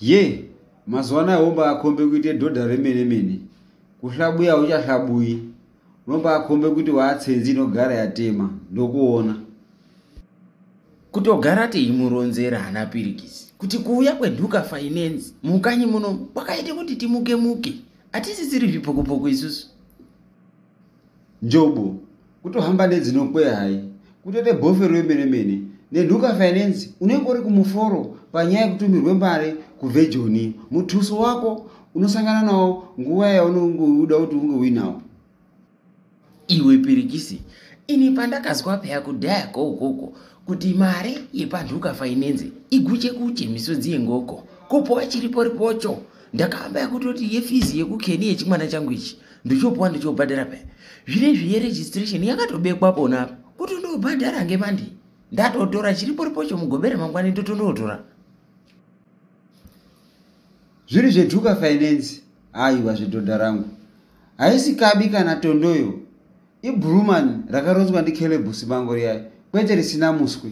ye yeah. mazuva anaya wombaakombe kuite dhodha remene mene kuhlabuya hauchahlabuyi unombaakombe kuti waatsenzi inogara yatema ndokuona kutogara teimuronzera hana pirikisi kuti kuuya kwenhuka finance mukanyi muno kwakaita kuti timuke muke hatisisiri zvipokopoko isusu Njobo, kutohamba nedzinokwe hai, kutoita bofe rwemene mene. Nenhuka Finance unenge uri kumuforo panyaya yekutumirwe mari kubve Joni. Mutuso wako unosangana nawo nguva yaunenge uda kuti unge uinawo. Iwe Pirikisi, ini pandakazwa peya kudhaya ko ukoko kuti mari yepanhuka Finance iguche kuche misodzi yengoko kupuwa chiripo ripocho ndakahamba yakutoti yefizi yekukeni yechimwana changu ichi ndichopuwa ndichobhadhara paya zvine zviye registration yakatobekwa pona apa kuti ndobhadhara ngemandi ndatotora chiriporipocho mugobera mangwani ndotondotora zviri zvetuka finance aiwa zvedhodha rangu haisi kabi kana tondoyo ibruman rakaronzwa ndicaleb sibango riyayo kwete risina muswi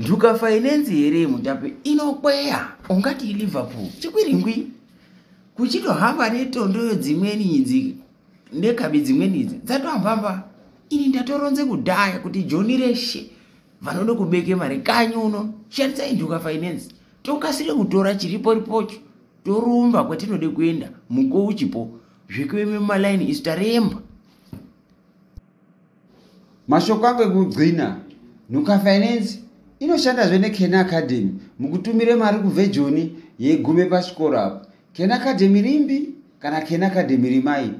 njuka fainenzi here mutape inokweya ungati liverpool chikwiringwi kuchitohamba netondoyo dzimweni idzi nekabi dzimweni idzi dzatohambamba ini ndatoronze kudhaya kuti joni reshe vanoda kubeke mari kanyi uno shandisai njuka fainenzi tokasire kutora chiripo ripocho torumba kwatinode kuenda muko uchipo zvekuve mumalaini isu taremba Mashoko angu ekugcina, Nhuka Finance inoshandazve neKen Academy mukutumira mari kuvhejoni yegume pachikoro apo. Ken Academy rimbi kana Ken Academy rimai,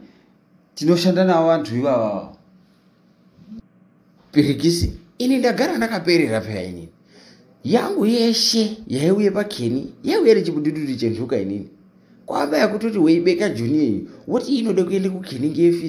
tinoshanda navo vanhu ivavavo. Pirikisi, ini ndagara ndakaperera peya inini. Yangu yeshe yaiuye pakeni yaiuye nechibudidudi chenhuka inini. Kwamba yakutoti weibeka joni yenyu, woti inode kuende kukeni ngeyefisi.